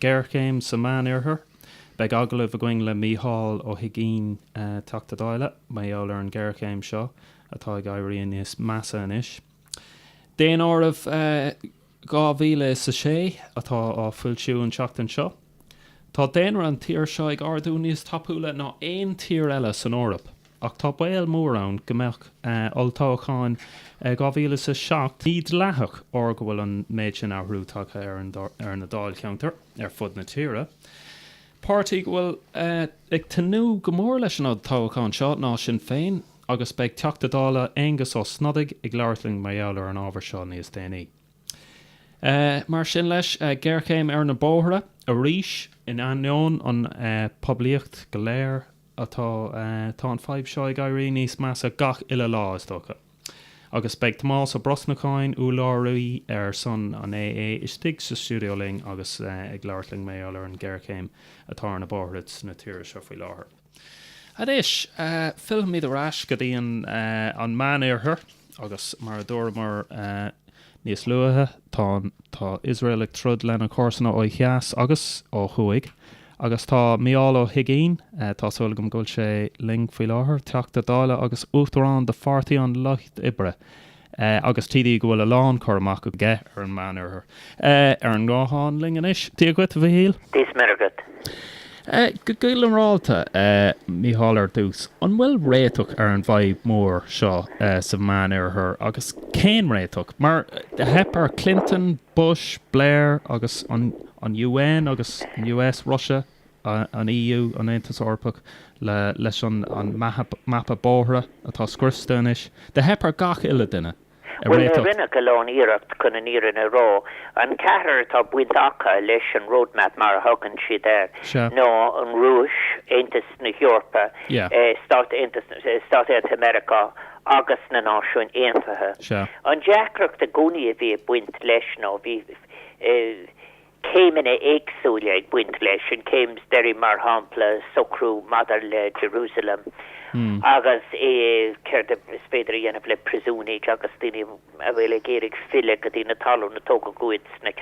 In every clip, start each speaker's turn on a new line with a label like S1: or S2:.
S1: Géarchéim sa Mheánoirthear. Beidh agallamh againn le Mícheál Ó hUiginn, Teachta Dála, mar gheall ar an ghéarchéim seo atá ag éirí aníos measa anois. Daonáireamh 2006 atá á foilsiú an tseachtain seo. Tá daonra an tír seo ag ardú níos tapúla ná aon tír eile san Eoraip. Ach tá baol mór ann go mbeadh olltoghachán 2007 mídhleathach mar go bhfuil an méid sin athrú tagtha ar na dáilcheantair ar fud na tíre. Páirtí go bhfuil ag tnúth go mór leis an olltoghachán seo ná Sinn Féin agus beidh Teachta Dála Aengus Ó Snodaigh ag labhairt linn mar gheall ar an ábhar seo níos déanaí. Ar sin leis, géarchéim ar na bóithre arís in ainneoin an poiblíocht go léir atá, tá an fhadhb seo ag éirí níos measa gach uile lá, is dócha. Agus beidh Tomás Ó Brosnacháin, úrlabhraí ar son an AA, istigh sa stiúideo linn agus ag labhairt linn mar gheall ar an ghéarchéim atá ar na bóithre na tíre seo faoi láthair. Anois, fillfimid ar ais go dtí an Meánoirthear agus mar a dúramar, Níos luaithe tá an tá Iosrael ag troid lena comharsana ó theas agus ó thuaidh agus tá Mícheál Ó hUiginn, tá súil agam go bhfuil sé linn faoi láthair, Teachta Dála agus Uachtarán de Pháirtí an Lucht Oibre agus TD go bhfuil a lán cur amach aige ar an Meánoirthear, ar an nguthán linn anois. Dia dhuit, a Mhichíl. Dia is Muire dhuit. Go ginearálta, a Mícheál, ar dtús, an bhfuil réiteach ar an bhfadhb mhór seo sa Mheánoirthear agus cén réiteach? Mar do theip ar Clinton, Bush, Blair agus an UN agus an US, Russia, an EU, an Aontas Eorpach, leis an mapa bóithre atá scriosta anois, do theip ar gach uile duine. Bhuel,
S2: rinneadh a lán iarracht chun an fhírinne a rá. An ceathrar atá baint acu leis an roadmap mar a thugann siad air Sea. ná an Rúis, Aontas na hEorpa, Yeah. eh, Stáit Aontais na, eh, Stáit Aontaithe Meiriceá agus na Náisiúin Aontaithe. Sea. An deacracht i gcónaí a bhí ag baint leis ná bhí, eh, céimeanna éagsúla ag baint leis. An chéim is deiridh mar shampla socrú maidir le Jerusalem agus céard is féidir a dhéanamh le priosúnaigh agus daoine a bhfuil ag iarraidh filleadh go dtí na talún a tógadh uathu sna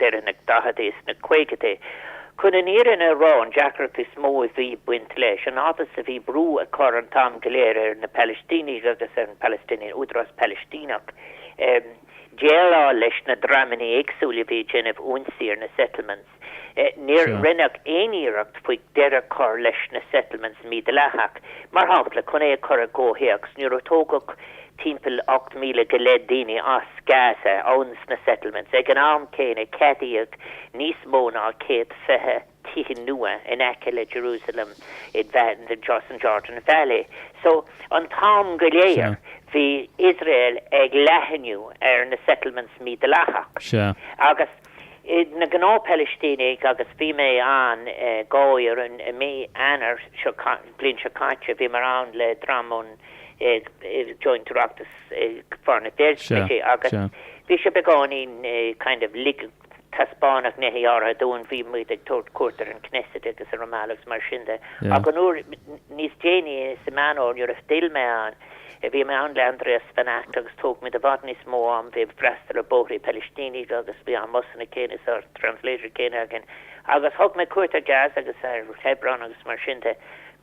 S2: deireadh na daicheadaí is na caogaidí. Chun an fhírinne a rá an deacracht is mó a bhí ag baint leis an fhad is a bhí brú á chur an t-am go léir ar na Palaistínigh agus ar an Palestinian Údarás Palaistíneach Déileáil leis na dreamanna éagsúla a bhí ag déanamh ionsaí ar na Settlements. Níor rinneadh aon iarracht faoi deireadh a chur leis na Settlements mídhleathach. Mar shampla, chun é a chur i gcomhthéacs, nuair a tógadh timpeall 8,000 go leith daoine as Gaza ó na Settlements ag an am céanna ceadaíodh níos mó ná 120 tí nua in aice le Jerusalem in the Jordan Valley. So an t-am go léir bhí Israel ag leathnú ar na settlements mídhleathach. Sea. Agus na gnáth-Phalaistínigh agus bhí mé ann i mí Eanáir, bliain seo caite, bhíomar ann le dream ón joint Oireachtas Foreign Affairs agus bhí sé beagáinín kind of lig, Taispeánadh nithe áirithe dúinn, bhí muid ag tabhairt cuairt ar an Knesset agus ar Ramallah agus mar sin de. Ach an uair níos déanaí sa Meán Fómhair nuair a d'fhill mé ann bhí mé ann le Andreas Van Agt agus thóg muid i bhfad níos mó am ag freastal ar bóithrí Palaistíneach agus bhí an mbusanna céanna is an translator céanna againn agus thug mé cuairt ar Gaza agus ar Hebron agus mar sin de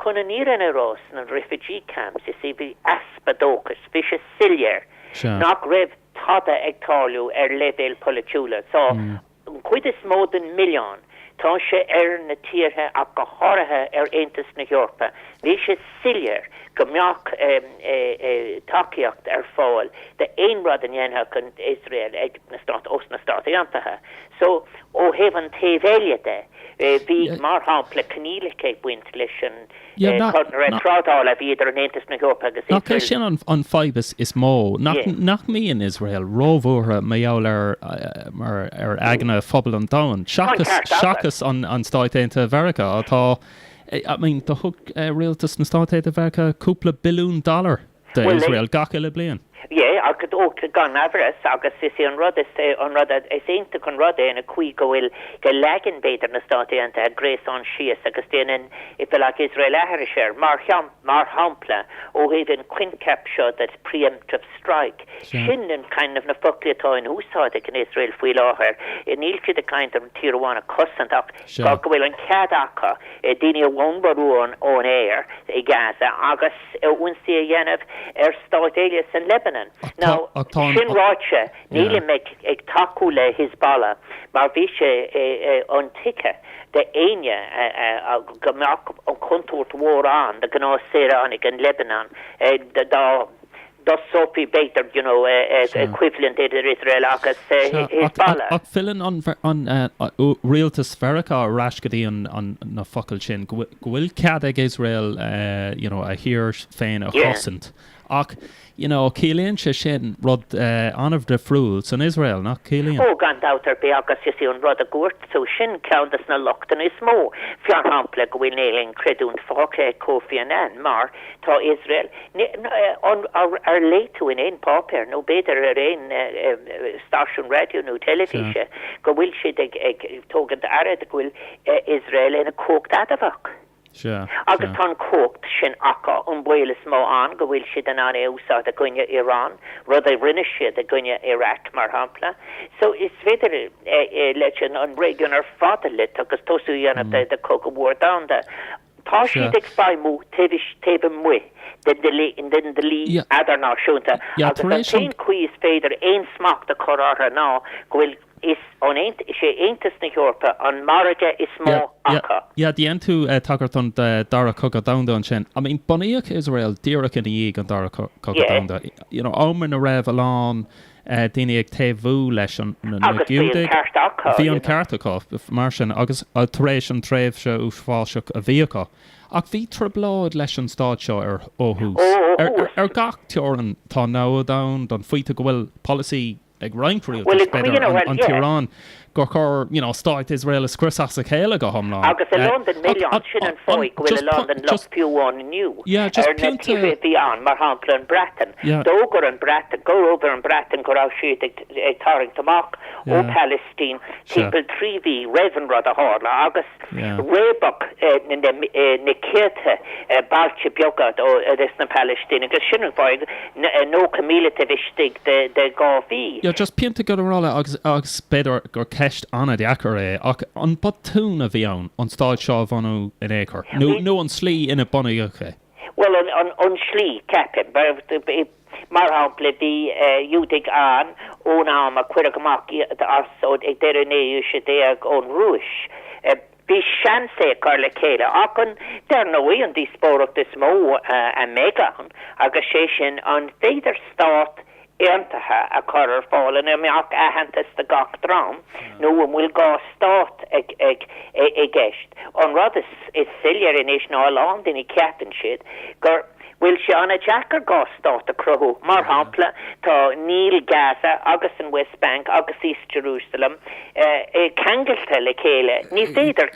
S2: chun an fhírinne a rá sna refugee camps you see bhí easpa dóchais bhí sé soiléir nach raibh tada ag tarlú ar leibhéal polaitiúla. So an chuid is mó den mhilleán, tá sé ar na tíortha ach go háirithe ar Aontas na hEorpa. Bhí sé soiléir go mbeadh tacaíocht ar fáil d'aon rud a dhéanfadh an Iosrael ag na Stáit, ós na Stáit Aontaithe. So, ó thaobh an taobh eile de, bhí, mar shampla, coinníollacha ag baint leis an. trádáil a bhí idir an Aontas
S1: na hEorpa agus Iosrael. Nach é sin an fhadhb is mó, nach mbíonn Iosrael róbhuartha mar gheall ar ar aigne phobal an domhain, seachas an Stáit Aontaithe Mheiriceá atá, I mean do thug rialtas na Stáit Aontaithe Mheiriceá cúpla billiún dollar, d'Iosrael gach uile
S2: bliain. Yeah, gan amhras, agus is é an rud is, an rud a, is iontach an rud é, an chaoi go bhfuil, go leagann b'fhéidir na Stáit Aontaithe gréasán síos agus déanann, if you like, Iosrael aithris air. Mar shampla, ó thaobh an coincheap seo de pre-emptive strike, sin an kind of na foclaí atá in úsáid ag an Iosrael faoi láthair. Níl siad ag caint ar tír amháin a chosaint ach, go bhfuil an cead acu daoine a bhombardú ón aer i Gaza agus ionsaí a dhéanamh ar stáit eile san Lebanon. Now, sin ráite, níl mé ag tacú le Hizbollah mar bhí sé intuigthe d'éinne go mbeadh an chontúirt mhór ann do ghnáthshaoránaigh an Lebanon dá Dost Sophie Baker, you know, an equivalent idir Israel agus Hezbollah. Ach
S1: filleann an rialtas Mheiriceá ar ais go dtí na focail sin, go bhfuil cead ag Israel, you know, a thír féin a chosaint. Ach, you know, ciallaíonn sé sin rud an-difriúil san Israel, nach gciallaíonn? Ó, gan dabht ar
S2: bith agus is é an rud a dúirt tú, sin ceann de na lochtanna is mó, mar shampla, go bhfuil níl aon chreidiúint fágtha ag Kofi Annan mar tá Israel, Ar léigh tú in aon pháipéar, nó b'fhéidir ar aon stáisiún raidió nó teilifíse, go bhfuil siad ag tógaint aire de go bhfuil Israel ina cumhacht adamhach? Agus tá an cumhacht sin acu, an baol is mó ann go bhfuil siad in ann é a úsáid i gcoinne Iran, rud a rinne siad i gcoinne Iraq mar shampla. So is féidir leis an réigiún ar fad a loit agus tosú a dhéanamh de chogadh mhór domhanda. Tá siad ag feidhmiú taobh istigh, taobh amuigh den dlí idirnáisiúnta agus an t-aon chaoi is féidir aon smacht a chur orthu ná go bhfuil, is é Aontas na hEorpa an margadh is mó acu. Yeah, dhein
S1: tú tagairt don Dara Cogadh Domhanda ansin. I mean, bunaíodh Iosrael díreach i ndiaidh an Dara Cogadh Domhanda, you know, am ina raibh a lán, daoine ag taobhú leis na Giúdaigh. Bhí an ceart acu, mar sin, agus tar éis an tréimhse uafásach a bhí acu. Ach bhí trioblóid leis an Stát seo ar ó thús. Ar gach teorainn tá namhaid ann don phointe go bhfuil polasaí ag roinnt, bhuel, an Iaráin, gur chóir, you know, Stát Iosrael a scriosadh as a chéile go hiomlán. Agus a lán den
S2: milleán, sin an fáth go bhfuil a lán den locht fiú amháin inniu ar na tíortha a bhí ann, mar shampla an Bhreatain. D'fhógair an Bhreatain, d'fhógair an Bhreatain go raibh siad ag tarraingt amach ó Palestine timpeall trí mhí roimh an rud a tharla agus, réabadh na céadtha bailte beaga de na Palaistínigh agus sin an fáth 90,000 taobh istigh de dhá mhí. You know, just pointe
S1: ginearálta agus b'fhéidir gur ceist an-deacair é ach an botún a bhí ann an stát seo a bhunú in aon chor nó nó an slí ina bunaíodh é? Bhuel an an
S2: an slí ceapaim. Mar shampla, bhí Giúdaigh ann ón am a cuireadh amach iad as an, ag deireadh na naoú aoise déag, ón Rúis. Bhí seans é a chur le chéile. Ach an, dar ndóigh, an díospóireacht is mó a bheidh ann, agus sé sin, an féidir stát aontaithe a chur ar fáil ina mbeadh aitheantas do gach dream, nó an bhfuil dhá stát i gceist. An rud is soiléire anois ná a lán daoine ceapann siad gur. bhfuil sé an-deacair dhá stát a chruthú. Mar shampla, tá níl Gaza agus an West Bank agus East Jerusalem ceangailte le chéile. Ní féidir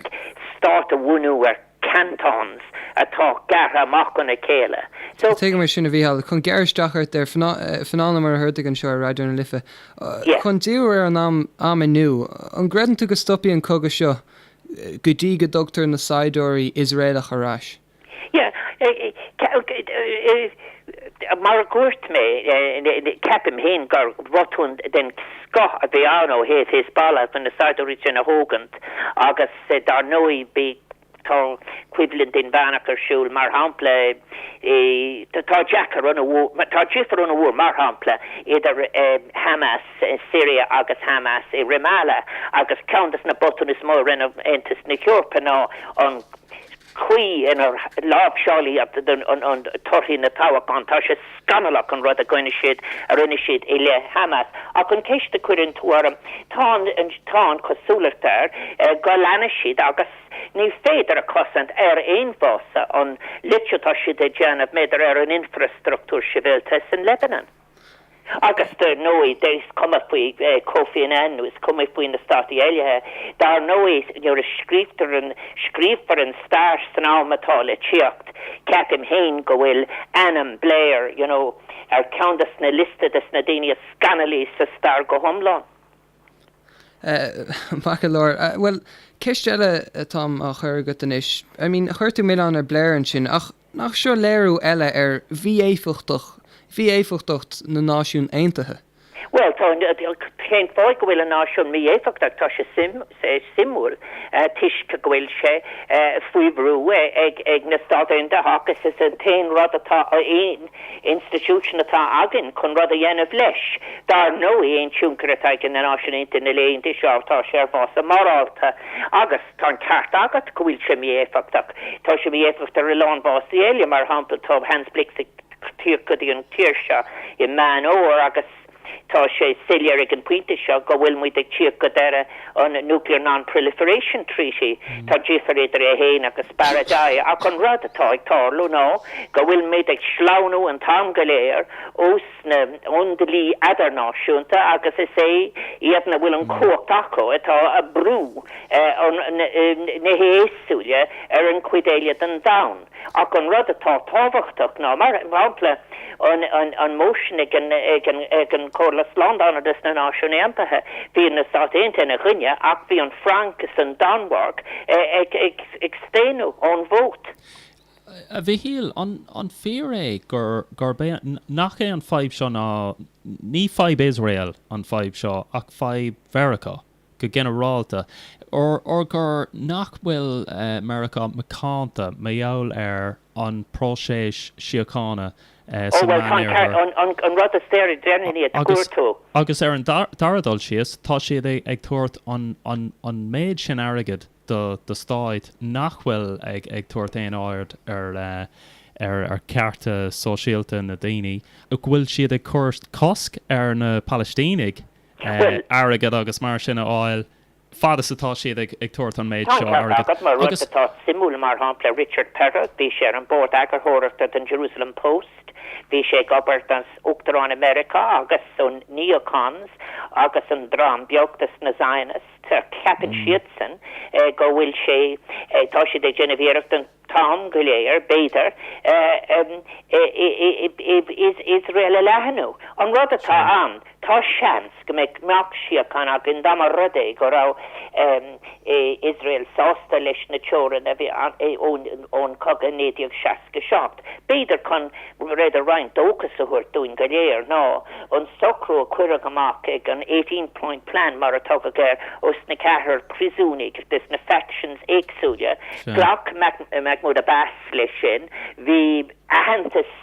S2: stát a bhunú ar cantons atá gearrtha amach óna chéile. So. Tuigim é
S3: sin, a Mhícheáil. Chun gearradh isteach ort ar feadh nóiméid, mar atá muid anseo ar Raidió na Life, chun díriú ar an am inniú, an gcreideann tú go stopfaidh an cogadh seo go dtí go dtugtar na saighdiúirí Iosraelacha ar ais?
S2: Yeah, mar a dhúirt mé, ceapaim féin gur botún den scoth a bhí ann ó thaobh Hezbollah chun na saighdiúirí sin a thógaint agus dar ndóigh bhí, tá coimhlint inmheánach ar siúl mar shampla i, tá deacair ana mhór, tá difear ana mhór mar shampla idir Hamas i Syria agus Hamas i Ramallah agus ceann de na botúin is mó a rinne Aontas na hEorpa ná an chaoi inar láimhseáil siad torthaí na dtoghchán. Tá sé scannalach an rud a rinne siad a rinne siad i leith Hamas. Ach an cheist a chuireann tú orm, tá an tá an chosúlacht air go leanfaidh siad agus ní féidir a chosaint ar aon bhasis an lot atá siad a' déanamh, maidir ar an infreastruchtúr sibhialta san Lebanon. Agus dar ndóigh dá is cuma faoi Kofi Annan nó is cuma faoi na stáit eile, dar ndóigh nuair a scríobhtar an, scríobhfar an stair san am atá le téacht, ceapaim fhéin go bhfuil ainm Blair, you know, ar ceann de sna liosta de sna daoine is scannailí sa stair go
S3: hiomlán. Maith go leor. Bhuel, ceist eile atá agam le cur chugat anois. I mean, chuir tú milleán ar Blair ansin, ach Nach seo léiriú eile ar mhí-éifeachtacht, mhí-éifeachtacht na Náisiún Aontaithe? Bhuel,
S2: tá, cén fáth go bhfuil an Náisiún mí-éifeachtach? Tá sé suim, sé suimiúil toisc go bhfuil sé faoi bhrú ag, ag na Stáit Aontaithe agus is an t-aon rud atá, aon institution atá againn chun rud a dhéanamh leis. Dar ndóigh, aon tionchar atá ag na Náisiúin Aontaithe na laethanta seo tá sé ar bhasis morálta agus. Tá an ceart agat go bhfuil sé mí-éifeachtach. Tá sé mí-éifeachtach ar a lán basis eile, mar shampla tá Hans Blix ag tíocht go dtí an tír seo i Meán Fómhair agus tá sé soiléir ag an bpointe seo go bhfuil muid ag tíocht go deireadh an Nuclear Non-Proliferation Treaty. Tá difir idir é fhéin agus Baradei ach an rud atá ag tarlú ná go bhfuil muid ag sleamhnú an t-am go léir ó sna ón dlí idirnáisiúnta agus is é iad a bhfuil an cumhacht acu atá ag brú na n-iasúile ar an gcuid eile den domhan. Ach an rud atá tábhachtach ná mar shampla an motion ag an Comhairle Slándála de sna Náisiúin Aontaithe bhí na Stáit Aontaithe ina choinne ach bhí an Fhrainc is an Danmhairg ag staonadh ón vote.
S1: A Mhichíl, an fíor é gurb é, nach é an fadhb seo ná, ní fadhb Iosrael an fadhb seo ach fadhb Mheiriceá go ginearálta, nó gur, nach bhfuil Meiriceá macánta mar gheall ar an bpróiseas síochána
S2: sa Mheánoirthear. Agus ar an
S1: dara dul síos, tá siad ag tabhairt an méid sin airgid do do stát nach bhfuil ag ag tabhairt aon aird ar ar ar chearta sóisialta na daoine, go bhfuil siad ag cur cosc ar na Palaistínigh airgead agus mar sin a fháil fad is atá siad ag ag tabhairt an méid seo airgid. Tá an ceart agat mar rud atá
S2: suimiúil mar shampla Richard Perle bhí sé ar an mbord eagarthóireachta don Jerusalem Post bhí sé ag obair don Uachtarán i Meiriceá agus sna Neocons agus an dream beag dos na Zionists. Ceapann siadsan go bhfuil sé, tá siad ag déanamh iarracht an t-am go léir, b'fhéidir, Iosrael a leathnú. An rud atá ann, tá seans go mbeadh síocháin ann dá mba rud é go raibh Iosrael sásta leis na teorainn a bhí ann ón gcogadh i 1967. B'fhéidir chun B'fhéidir roinnt dóchas a thabhairt dúinn go léir ná an socrú a cuireadh amach ag an Eighteen Point Plan mar a tugadh air ó sna ceathrar priosúnaigh de sna factions éagsúla. Ghlac Mahmoud Abbas leis sin. Bhí aitheantas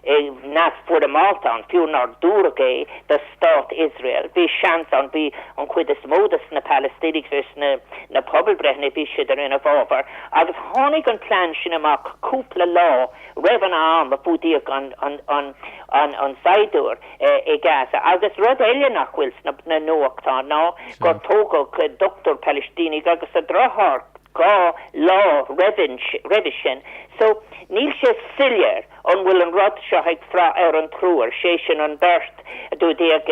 S2: neamhfhoirmeálta ann, fiú nár dúradh é, do Stát Iosrael. Bhí seans ann, bhí an chuid is mó de sna Palaistínigh de sna na pobalbhreitheanna bhí siad ar ina bhfabhar. Agus tháinig an plean sin amach cúpla lá roimh an am a fuadaíodh an saighdiúir i Gaza. Agus rud eile nach bhfuil sna nuachtáin ná gur tógadh dochtúir Palaistíneach agus a dheartháir dhá lá roimhe sin. So níl sé soiléir an bhfuil an rud seo ag brath ar an triúr, sé sin an beirt a fuadaíodh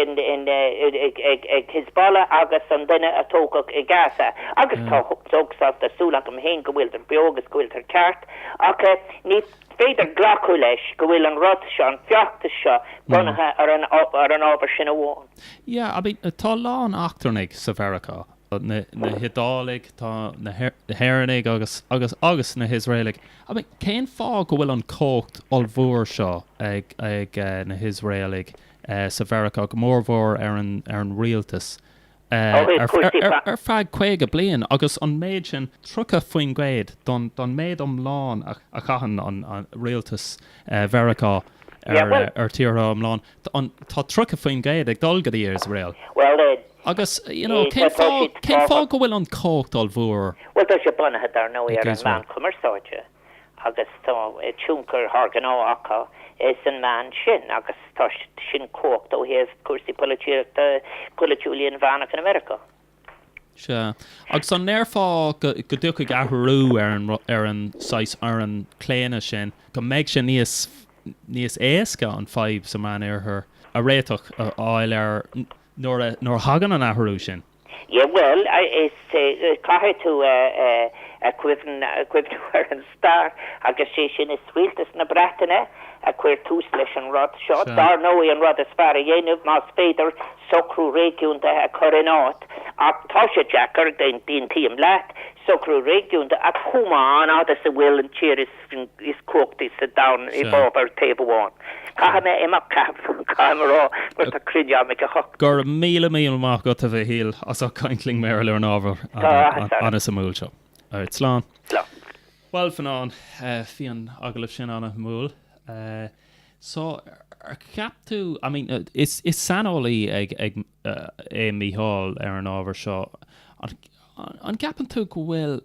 S2: ag Hizbollah agus an duine a tógadh i Gaza. Agus dar ndóigh tá súil agam fhéin go bhfuiltear beo agus go bhfuiltear ceart. Ach ní féidir glacadh leis go bhfuil an rud seo, an feachtas seo, bunaithe ar an ábhar sin amháin. Yeah, I mean, tá
S1: a lán eachtrannaigh sa Mheiriceá, na hIodálaigh, tá na hÉireannaigh agus, agus, agus na hIosraelaigh. I mean, cén fáth go bhfuil an cumhacht ollmhór seo ag, ag na hIosraelaigh sa Mheiriceá, go mórmhór ar an, ar an rialtas? ar feadh 50 bliain agus an méid sin, 30% don méid iomlán a chaitheann an Rialtas Mheiriceá ar tíortha iomlán, tá 30% ag dul go dtí Iosrael. Agus you know cén fáth, cén fáth go bhfuil an chumhacht ollmhór
S2: ag Iosrael? agus tá tionchar thar gnách acu sa mbealach sin agus tá sin cumhacht ó thaobh cúrsaí polaitíochta, polaitiúla inmheánach in America. Sea.
S1: Agus an ndéarfá go dtiocfaidh athrú ar an saghas ar an claonadh sin, go mbeidh sé níos níos éasca an fadhb sa Meán Oirthear a réiteach, a fháil ar nuair a thagann
S2: an athrú
S1: sin? Yeah
S2: well, is é, caithfidh tú cuimhneamh ar an stair agus sé sin is Rialtas na Breataine a chuir tús leis an rud seo. Dár ndóigh an rud is fearr a dhéanamh más féidir socrú réigiúnda a chur in áit ach tá sé deacair, aontaím leat, socrú réigiúnda a chumadh an fhad is a bhfuil an tír is cumhachtaí sa domhan i bhfabhar taobh amháin. Caithfidh mé
S1: imeacht, caithfidh. Caithfidh mé rá mar tá cruinniú agam ag a hocht. Go raibh míle míle maith agat, a Mhíchíl, as ucht caint linn, a Mhíchíl, ar an ábhar an-suimiúil seo. Slán. Slán. Bhuel, Fionán, bhí an agallamh sin an-suimiúil. So, an gceapann tú, I mean, is saineolaí é Mícheál ar an ábhar seo, an gceapann tú go bhfuil,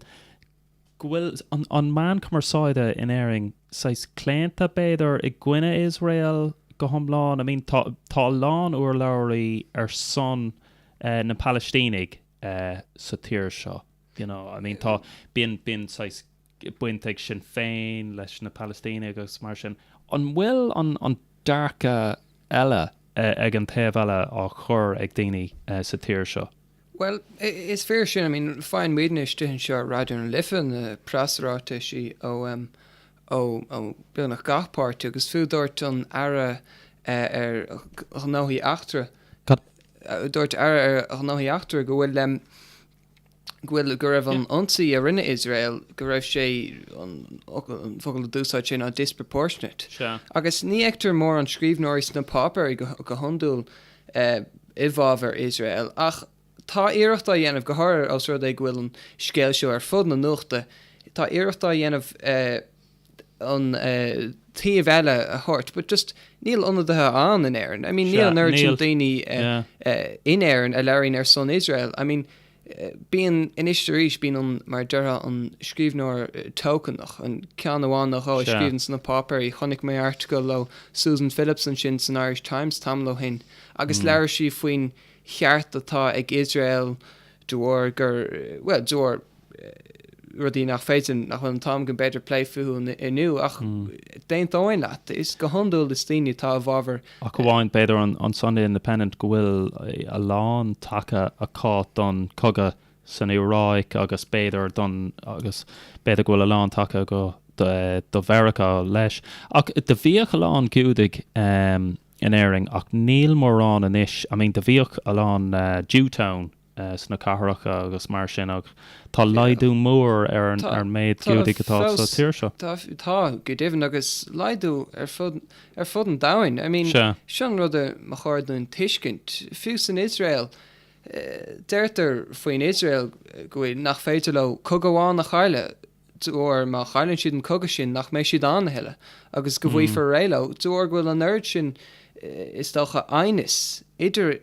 S1: go bhfuil an meán cumarsáide in Éirinn saghas claonta, b'fhéidir, i gcoinne Iosrael go hiomlán. I mean, tá a lán urlabhraithe ar son na Palaistínigh sa tír seo, you know. I mean, tá, bíonn, bíonn saghas baint ag Sinn Féin leis na Palaistínigh agus mar sin. An bhfuil an dearcadh eile ag an taobh eile á chur ag daoine sa tír seo?
S3: Bhuel, is fíor sin. I mean, faigheann muidne istigh anseo ar Raidió na Life na preasráiteisí ó, em, ó, ó beagnach gach páirtí agus fiú dúirt an Aire, eh, ar Ghnóthaí Eachtracha, eh, dúirt Aire ar Ghnóthaí Eachtracha go bhfuil, em, go bhfuil, go raibh an Yeah. ionsaí a rinne Iosrael, go raibh sé, an fhocal, an focal a d'úsáid sé ná disproportionate. Sea. Agus ní fheictear mórán scríbhneoirí sna páipéirí go, go hiondúil, i bhfabhar Iosrael. Ach tá iarracht á dhéanamh, go háirithe os rud é go bhfuil an scéal seo ar fud na nuachta, tá iarracht á dhéanamh an taobh eile a thabhairt but just níl ionadaithe ann in Éirinn. I mean níl an oiread sin daoine in Éirinn a labhraíonn ar son Iosrael. I mean. Bíonn, anois 's arís bíonn an, mar a déarfá an scríbhneoir token-ach, an ceann amháin nó dhó a Sea. scríobhann sna páipéirí. Chonaic mé article ó Susan Phillips ansin san Irish Times tamall ó shin agus labhair sí faoin cheart atá ag Iosrael de bharr gur, bhuel, de bharr rudaí nach féidir, nach bhfuil an t-am againn b'fhéidir plé fúthu inniu ach d'aontóinn leat. Is, go hiondúil is daoine atá i bhfabhar Ach amháin
S1: b'fhéidir an Sunday Independent go bhfuil a lán taca acu don cogadh san Iaráic agus b'fhéidir don agus b'fhéidir go bhfuil a lán taca acu do Mheiriceá leis. Ach do bhíodh a lán Giúdaigh in Éirinn ach níl mórán anois. I mean do bhíodh a lán Jewtown. sna cathracha agus mar sin ach tá laghdú mór ar an méad Giúdaigh atá sa tír seo. Tá, go deimhin
S3: agus laghdú ar fud an domhain. I mean, seo an rud ba chóir dúinn tuiscint, fiú san Iosrael, deirtear faoin Iosrael go bhfuil, nach féidir leo cogadh amháin a chailleadh óir má chailleann siad an cogadh sin nach mbeidh siad ann a thuilleadh agus go bhfaighfear réidh leo óir go bhfuil an oiread sin is dócha aighneas idir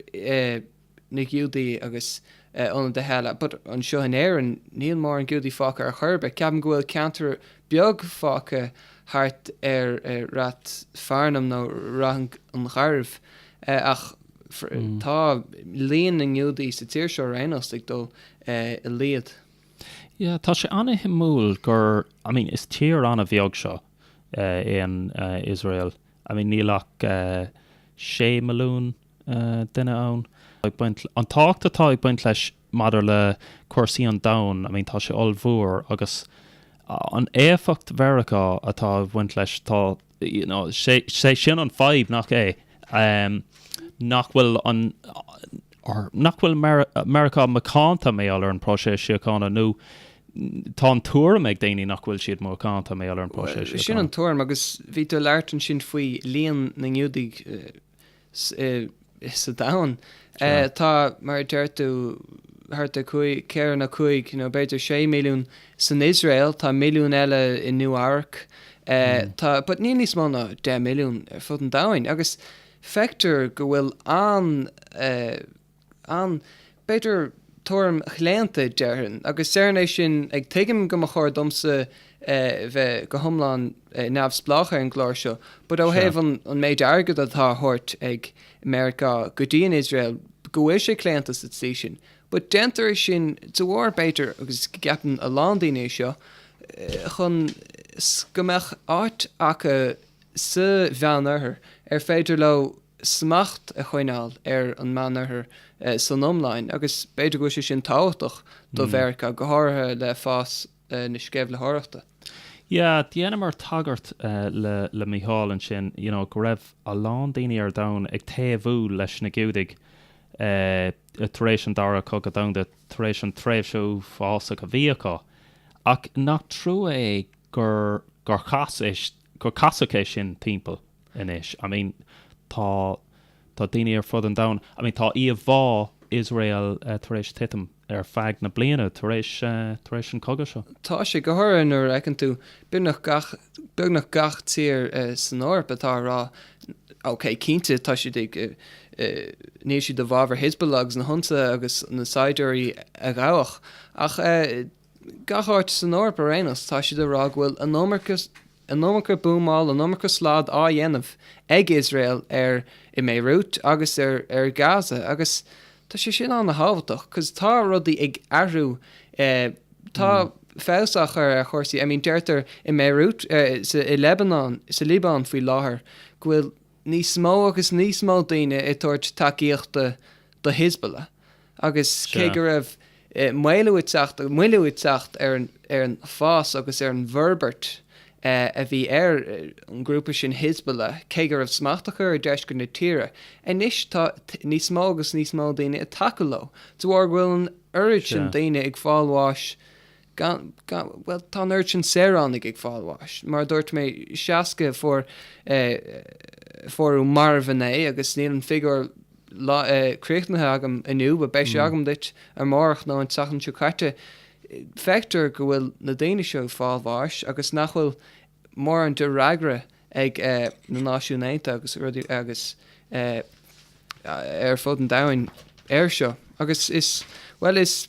S3: na Giúdaí agus an domhan eile. But anseo in Éirinn níl mórán Giúdaí fágtha ar chor ar bith. Ceapaim go bhfuil ceantar beag fágtha thart ar Rathfarnham nó Ráth Garbh ach tá líon na nGiúdaí sa tír seo ar aon nós ag dul i laghad. Yeah,
S1: tá sé an-shuimiúil gur, I mean, is tír an-bheag seo, an Iosrael. I mean, níl ach sé milliún duine ann. An tábhacht atá ag baint leis maidir le cúrsaí an domhain, I mean tá sé ollmhór agus an éifeacht Mheiriceá atá ag baint leis tá you know sé sé sin an fadhb nach é? Em nach bhfuil an or nach bhfuil Meiri Meiriceá macánta i ngeall ar an próiseas síochána nó tá an tuairim ag daoine nach bhfuil siad macánta i ngeall ar an próiseas síochána. Bhuel, sin an tuairim agus
S3: bhí tú ag labhairt ansin faoi líon na nGiúdaigh sa domhan. Tá, mar a deir tú, thart ar ceithre nó cúig nó b'fhéidir sé milliún san Iosrael, tá milliún eile i Nua-Eabhrac, tá, but níl níos mó ná deich milliún ar fud an domhain agus feictear go bhfuil an, an, b'fhéidir tuairim chlaonta, déarfainn, agus déarfainn é sin ag Tuigim go mba chóir domsa bheith go hiomlán neamhspleách ar an gclár seo, but ó thaobh an an méid airgead atá á thabhairt ag Meiriceá go dtí an Iosrael, go bhfuil sé claonta sa tslí sin. But déantar é sin dá bharr, b'fhéidir, agus ceapann a lán daoine é seo, chun go mbeadh áit acu sa Mheán-Oirthear ar féidir leo smacht a choinneáil ar an Meán Oirthear san iomlán agus b'fhéidir go bhfuil sé sin tábhachtach do Mheiriceá, go háirithe le fás na sceimhlitheoireachta. Yeah,
S1: dheineamar tagairt le Mícheál ansin, you know, go raibh a lán daoine ar domhan ag taobhú leis na Giúdaigh tar éis an Dara Cogadh Domhanda, tar éis an tréimhse uafásach a bhí acu. Ach nach trua é gur casadh é sin timpeall? anois. I mean tá, tá daoine ar fud an domhain, I mean tá íomhá Iosrael tar éis titim ar feadh na mblianta tar éis, tar éis an cogadh seo. Tá sé, go háirithe nuair
S3: a fheiceann tú beagnach gach, beagnach gach tír san Eoraip atá ag rá ok cinnte tá siad ag, níl siad i bhfabhar Hizbullah agus na hionsaithe agus na saighdiúirí a gabhadh ach eh, gach áit san Eoraip ar aon nós, tá siad ag rá go bhfuil an iomarca buamáil, an iomarca slad á dhéanamh ag Iosrael ar i mBéiriút agus ar Gaza agus tá sé sin an-tábhachtach 'cos tá rudaí ag athrú tá feabhas á chur ar chúrsaí, I mean deirtear i mBéiriút, i Lebanon, sa Liobáin faoi láthair go bhfuil níos mó agus níos mó daoine ag tabhairt tacaíochta do Hizbullah agus cé go raibh maolú ag teacht, moilliú ag teacht ar an fás agus ar an bhforbairt a bhí ar an ghrúpa sin Hizbullah, cé go raibh smacht acu ar deisceart na tíre, anois tá níos mó agus níos mó daoine ag tacú leo de bharr go bhfuil an oiread sin daoine ag fáil bháis Gan, gan, bhuel, tá an oiread sin saoránaigh ag fáil bháis. Mar a dúirt mé, 60 a fuair, fuarthas marbh inné agus níl an figiúr lá, críochnaithe agam inniu, but beidh sé agam duit amárach nó an tseachtain seo caite. Feictear go bhfuil na daoine seo ag fáil bháis agus nach bhfuil mórán de fhreagra ag na Náisiúin Aontaithe agus rudaí, agus ar fud an domhain air seo. Agus is, bhuel, is.